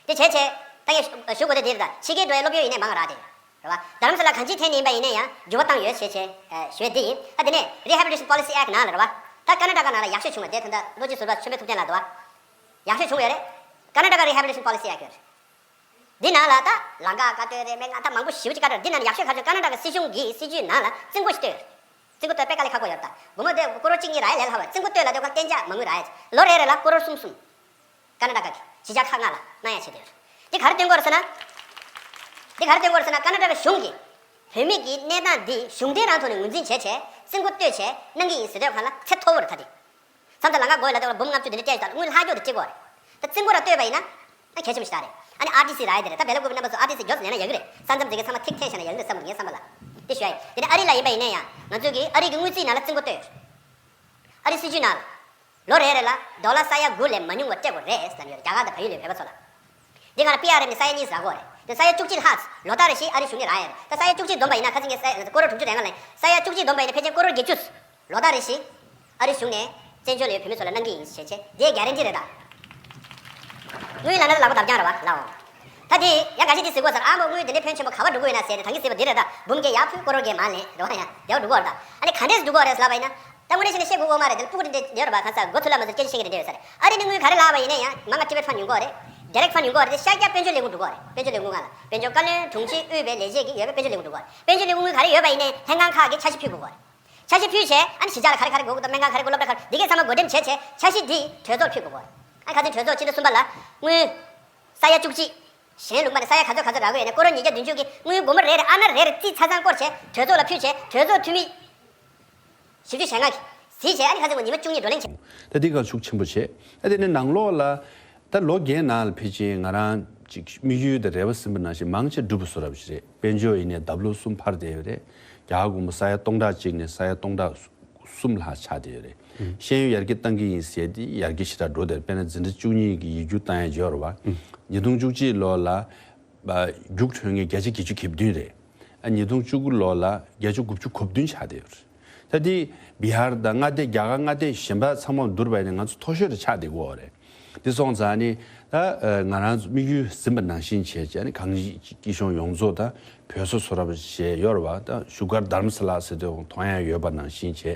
དེ་བྱས་བྱས། ད་ངས་ཞུ་དགོས་དོན་དེ་རེད་ད། ཕྱི་རྒྱལ་འགྲོ་བའི་སློབ་ཡོན་ཡིན་ནའི་མང་ར་སྟེ། རེད་བ། རྡ་རམ་ས་ལ་གང་ཅིའི་ཐད་ནས་ཡིན་པ་ཡིན་ནའི་ཡང་འགྱུར་བ་བཏང་ཡོད་ཞེས་བྱས། ཞོལ་འདི་ཡིན། ད་དེ་ནས། Rehabilitation Policy Act ནང་ལ་རེད་བ། ད་ཀ་ན་ཀྲ་ཀ་ནང་ལ་ཡག་ཤོས་བྱུང་བ་དེ་ད་ལྟ་ལོ་གཅིག་ཟུར་པ་ཆེན་པོའི་ཐུབ་བསྟན་ལ་དུ་བ། ཡག་ཤོས་བྱུང་བ་ཡོད་རེད། ཀ་ན་ཀྲ་ཀ Rehabilitation Policy Act རེད། འདི་ནང་ལ་ད། ལང་ཀ་ཀ་སྟོད་རེད་མེད་ང་ད་མང་པོ་ཞིབ་ཅིག་ཀ་སྒྲོག་འདི་ནང་ཡག་ཤོས་ག་ཚོད་ཀ་ན་ཀྲ་ཀ་སྲིད་གཞུང་གིས་སྲིད་ཇུས་ནང་ལ་རྩིས་འགོ་ཞིག་བཏོད་ཡོད་རེད། རྩིས་འགོ་བཏོད་པས་ཀ་ལས་ཁ་སྒོ་ཡོད་རེད་ད། བུ་མོ་དེ་ཀོ་རོར་གཅིག་གཉིས་ར་ཡས་ལས་ལྷག་བས་རྩིས་འགོ་བཏོད་ལ་དེ་ཁོ་གཏན་འཇགས་མ་དངུལ་ར་ཡས་ལོ་རེ་རེ་ལ་ཀོ་རོར་གསུམ་གསུམ། ཀ་ན་ཏཱ་གི་བྱི་རྒྱ་ཁག་ལྔ་ལ་སྣང་ཡང་བྱེད་དུ་ཡོད། འདི་གར་བསྟུན་སྐོར་ཟེར་ན། འདི་གར་བསྟུན་སྐོར་ཟེར་ན་ཀ་ན་ཏཱ་བའི་གཞུང་གིས། བོད་མི་འདིའི་གནས་སྟངས་འདི་གཞུང་འབྲེལ་རང་ཐོག་ནས་ངོས་འཛིན་བྱས་བྱས་རྩིས་མཁོ་གཏོད་བྱས་གནང་གི་ཡིན་ཟེར་སྡོད་ཁང་ལ་ཚེ་མཐོ་བོར་ད་ལྟའི་མཚམས་དུ་ལ་ང་དགོས་ལ་དེ་ལ་འབུམ་ལྔ་བཅུ་དེ་འདྲའི་སྐྱེས་ཡོད་ད་དངུལ་ལྷག་རྒྱོག་དེ་སྐྱེས་གོ་རེད། ད་རྩིས་མཁོ་རང་གཏོད་པ་ཡིན་ན། ང་གལ་ཆེན་པོ་ཞིག་ད་རེད། ཨ་ནི RTC ར་ཡི་དེ་རེད་ད་བལ་ལོ་དགུ་པའི་རྣམ་པ་བཟོ RTC རྒྱོབས་སུ་ལེན་ན་ཡག་གི་རེད་ས་མཚམས་འཛིན་མཁན་ཚང་མ་ཐིག་ཐེན་བྱས་ན་ཡག་གི་རེད་བསམ་གི་ཡིན་བསམ་པ་ལ། དེ་ཞུ་ཡ་ཡིན་དེ་ནས་ཨ་རི་ལ་ཡིན་པ་ཡིན་ན་ཡང་ང་ཚོས་ཀྱིས་ཨ་རིག་གི་དངུལ་རྩིས་ནང་ལ་རྩིས་མཁོ་གཏོད་ཡོད། ཨ་རིའི་སྲིད་ཇུས་ནང་ལ། ལོ་རེ་རེ་ལ་རྡོ་ལ་ས་ཡ་དགུ་ལས་མ་ཉུང་བ་སྤྲད་དགོས་རེད་ཟེར་གྱི་ཡོད་རེད་རྒྱ་གར་དང་བལ་ཡུལ་ལས་བོད་པ་ཚོ་ལ། འདི་ག་ལ་པི་ཨ་རེ་ནི་ས་ཡ་གཉིས་ཟ་དགོས་རེད་དེ་ས་ཡ་བཅུ་གཅིག་ལྷག་ཟེར་ལོ་ལྟར་རེ་བཞི་ཨ་རིའི་གཞུང་ནས་ར་ཡ་རེད་ད་ས་ཡ་བཅུ་གཅིག་བསྡོམས་པ་ཡིན་ན་ཁ་ཚིག་ངས་ས་ཡ་གོ་རོ་དྲུག་ཅུ་རེ་ང་ལ་ཡིན་ས་ཡ་བཅུ་གཅིག་བསྡོམས་པ་ཡིན་ན་ཕལ་ཆེར་གོ་རོ་བརྒྱད་ཅུ། ལོ་ལྟར་རེ་བཞི་ཨ་རིའི་གཞུང་ནས་བཙན་བྱོལ་ལ་ཡོད་བོད་མི་ཚོ་ལ་གནང་གི་ཡིན་ཞེས་བྱས་དེའི་རྒྱ་རེན་ཏི་རེད་ད། དངུལ་ལ་ན་ད་ལག་པ་འདབ་བརྐྱང་ར་བ་ལ་འོང། ད་དེ་ཡ་ག་ཞིག་འདི་ཟི་དགོས་ཟེར་ཨ་མོ་དངུལ་དེ་འདྲའི་ཕོན་ཆེན་པོ་ག་བ་འགྲོ་གི་ཡོད་ན་ཟེར་དེ་ད་གིན་ཟི་བ་འདི་རེད་ད་འབུམ་བརྒྱད་ཡ་ཕུལ་གོ་རོ་བརྒྱད་མ་ལེན་རེ་བ་ཡ་རྒྱ་བ་འགྲོ་གོ་རེད་ད་ཨ་ནི་ག་འདྲས་འགྲོ་གོ་རེད་ཟེར་ལབ་པ་ཡིན་ན། ད་དངོས་གནས་ཤེས་ནས་ཤེས་དགོས་དགོས་མ་རེད་འདི་ལ་སྤུ་གུ་རེ་འདྲེ་ཡོད་རེད་པ་གང་ཟག་སྒོ་ཐུར་ལ་མ་ཟུར་སྐྱེལ་རྗེས་ཤེས་ཀྱི་རེ་འདྲེ་ཡོད་ས་རེད་ཨ་རི་ནི་དངུལ་ག་རེ་ལགས་པ་ཡིན་ན་ཡང་མ་ང Private Fund ཉུང་གོག་རེད Direct Fund ཉུང་གོག་རེད་དེ་ཤཱཀྱ་དཔོན་ཆུ་ལས་ཁུངས་འགྲུབ་གོག་རེད་དཔོན་ཆུ་ལས་ཁུངས་གང་ལ་དཔོན་ཆུ་བཀའ་བློན་དྲུང་ཆེ་དབུས་པའི་ལས་བྱེད་ཀྱི་ཡོད་པས་དཔོན་ཆུ་ལས་ཁུངས་འགྲུབ་གོག་རེད་དཔོན་ཆུ་ལས་ཁུངས་གང་རེ་ཡོད་པ་ཡིན་ནས་ལྷན་ཁང་ཁག་གི་འཆར་གཞི་ཕུལ་དགོས་གོག་རེད་འཆར་གཞི་ཕུལ་བྱས་ཨ་ནི་གཞི་ཆགས་ལ་ག་རེ་ག་རེ་དགོས་གི་འདུག་སྨན་ཁང་ག་རེ་དགོས་སློབ་གྲྭ་ག་རེ་འདི་གས་ཚང་མ་བགོ་འགྲེམས་བྱས་བྱས་འཆར་གཞི་འདི་གྲོས་ཚོགས་ཕུལ་དགོས་གོག་རེད་ཨ་ནི་ག་ཚོད་གྲོས་ཚོགས་ཕྱི་ལོ་གསུམ་པ་ལ་དངུལ་ས་ཡ་བཅུ་གཅིག་གཞན་ལུགས་མ་ནི་ས་ཡ་ག་ཚོད་ག་ཚོད་རག་གི་ཡོད་ནས་སྐོར་རོ་ཉིས་བརྒྱ་བདུན་ཅུ་གི་དངུལ་སྒོར་མོ་རེ་རེ་ཨ་ན་རེ་རེ་རྩིས་ཚ་ཚང་སྐོར་བྱས་གྲོས་ཚོགས་ལ་ཕུལ་བྱས་གྲོས་ཚོགས་འཐུས་མི་ཞིབ་འཇུག་བྱས་ནག་གིས་གཟིགས་བྱས་ཨ་ནི་ཁ་ཚེ་མོ་ཉི་མ་བཅུ་གཉིས་བགྲོ་གླེང་བྱས། ད་དེ་གར་ཤུགས་ཆེན་པོ་བྱས། ཨ་དེ་ནས་ནང་ལོགས་ལ། ད་ལོ་རྒྱའི་ནང་ལ་ཕེབས་ཕྱིན་ང་རང། དམིགས་ཡུལ་དང་རེ་བ་ཟིན་པ་ནང་བཞིན་མང་ཆེ་འགྲུབ་པ་བཟོ་རབས་ཞིག་རེད་དཔལ་འབྱོར་ཡེ་ནས་འདབ་ལོ་གསུམ་འཕར་བསྡད་ཡོད་རེད། རྒྱ་དགོང་མོ་ས་ཡ་སྟོང་ཕྲག་གཅིག་ནས་ས་ཡ་སྟོང་ཕྲག། གསུམ་ལྷག་ཆགས་བསྡད་ཡོད་རེད། ཤེས་ཡོན་ཡར་རྒྱས་བཏང་གི་ཡིན་ཟེར་ཏེ་ཡར་རྒྱས་ཞེ་དྲག་འགྲོ་བསྡད་པས་ན་འཛིན་གྲྭ་བཅུ་གཉིས་ཀྱི་ཡིག་རྒྱུགས་བཏང་ཡ་འབྱོར་བ། ཉིས་སྟོང་བཅུ་གཅིག་ལོ་ལ། རྒྱུགས་འཕྲོད་ངེས་བརྒྱ་ཆ་བརྒྱད་ཅུ་གྱིས་བདུན་རེད། ཉིས་སྟོང་བཅུ་དགུ་ལོ་ལ་བརྒྱད་ཅུ་དགུ་བཅུ་གོ་བདུན་ཆགས་བསྡད་ཡོད་རེད། ད་དེའི་བི་ཧར་དང་མངའ་སྡེ་རྒྱ་གར་མངའ་སྡེ་གཞན་པ་ཚང་མ་བསྡུར་བས་ནི་ང་ཚོ་མཐོ་ཤོས་རེ་ཆགས་བསྡད་དགོས་རེད། འདི་སོང་ཙང་ནི་ད་ང་རང་ཚོ་དམིགས་ཡུལ་ཟིན་པ་ནང་བཞིན་བྱས་ཅེས་གངས་སྐྱིད་གཞུང་ཡོངས་རྫོགས་དང་བོད་སོ་སོ་ར་བ་ཞེས་གཡོ་ར་བ་དང་བཞུགས་སྒར་དྷརྨ་སཱ་ལཱ་ཟེར་དུས་ཡོང་ཐོང་ཡང་ཡོད་པ་ནང་བཞིན་བྱས།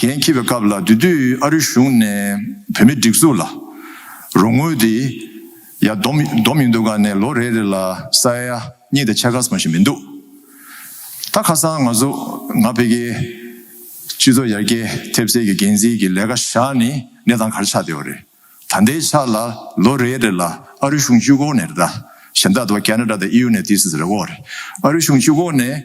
རྒན་འཁྱིལ་བའི་སྐབས་ལ་དེ་དུས་ཨ་རི་གཞུང་ནས་བོད་མིའི་སྒྲིག་འཛུགས་ལ་རོགས་དངུལ་དེ་ཡ་བསྡོམས་མི་འདུག་ག་ནས་ལོ་རེ་རེ་ལ་ས་ཡ་གཉིས་དང་ཆ་གསུམ་ཞིག་མི་འདུག་ད་ཁ་སང་ང་ཚོ་ང་ཕལ་སྐད་སྤྱི་ཚོགས་ཡར་རྒྱས་ཐེབས་རྩའི་གི་འགན་འཛིན་གི་ལས་ཀ་བཞག་ནི་གནས་སྟངས་ག་རེ་ཆགས་བསྡད་བ་རེད་ད་ལྟའི་ཆ་ལ་ལོ་རེ་རེ་ལ་ཨ་རི་གཞུང་སྤྱི་ཁོག་ནས་རེ་ད་གཞན་དག་དུ་བ་ཀ་ན་ཀྲ་དང་ཨི་ཡུ་ནས་ཏི་སི་རེ་བོ་རེད་ཨ་རི་གཞུང་སྤྱི་ཁོག་ནས།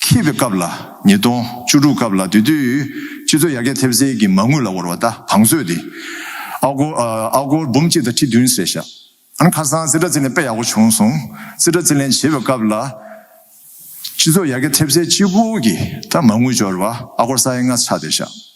འཁེལ་བའི་སྐབས་ལ་ཉིས་སྟོང་བཅུ་དྲུག་སྐབས་ལ་དེ་དུས་སྤྱི་ཚོགས་ཡར་རྒྱས་ཐེབས་རྩའི་གི་མ་དངུལ་ལ་བོར་བ་དང་བང་མཛོད་དེ་ཨ་སྒོར་ཨ་སྒོར་འབུམ་གཅིག་དང་ཁྲི་བདུན་ཟེར་ཤག་ཨང་ཁ་སང་རྩིས་ཁྲ་རྩིས་ལེན་དཔེ་ཡག་པོ་བྱུང་སོང་རྩིས་ཁྲ་རྩིས་ལེན་བྱེད་པའི་སྐབས་ལ་སྤྱི་ཚོགས་ཡར་རྒྱས་ཐེབས་རྩའི་སྤྱི་སྒོར་གི་ད་མ་དངུལ་འབྱོར་བ་ཨ་སྒོར་ས་ཡ་ལྔ་ཆགས་བསྡད་ཤག།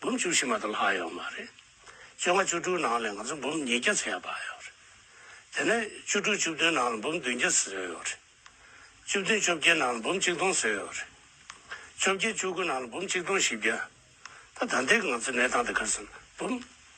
འབུམ་བཅུ་བཞི་མ་དང་ལྷག་ཡོད་མ་རེད། བཅོ་ལྔ་བཅུ་དྲུག་ནང་ལས་ང་ཚོ་འབུམ་ཉིས་བརྒྱ་ཚུད་ཡ་བར་ཡོད་རེད། དེ་ནས་བཅུ་དྲུག་བཅུ་བདུན་ནང་ལ་འབུམ་བདུན་བརྒྱ་ཟེར་ཡོད་རེད། བཅུ་བདུན་བཅོ་བརྒྱད་ནང་ལ་འབུམ་གཅིག་སྟོང་ཟེར་ཡོད་རེད། བཅོ་བརྒྱད་བཅུ་དགུ་ནང་ལ་འབུམ་གཅིག་སྟོང་བཞི་བརྒྱ། ད་ད་ལྟའི་ང་ཚོའི་གནས་སྟངས་དེ་གར་སོང་ན་འབུམ།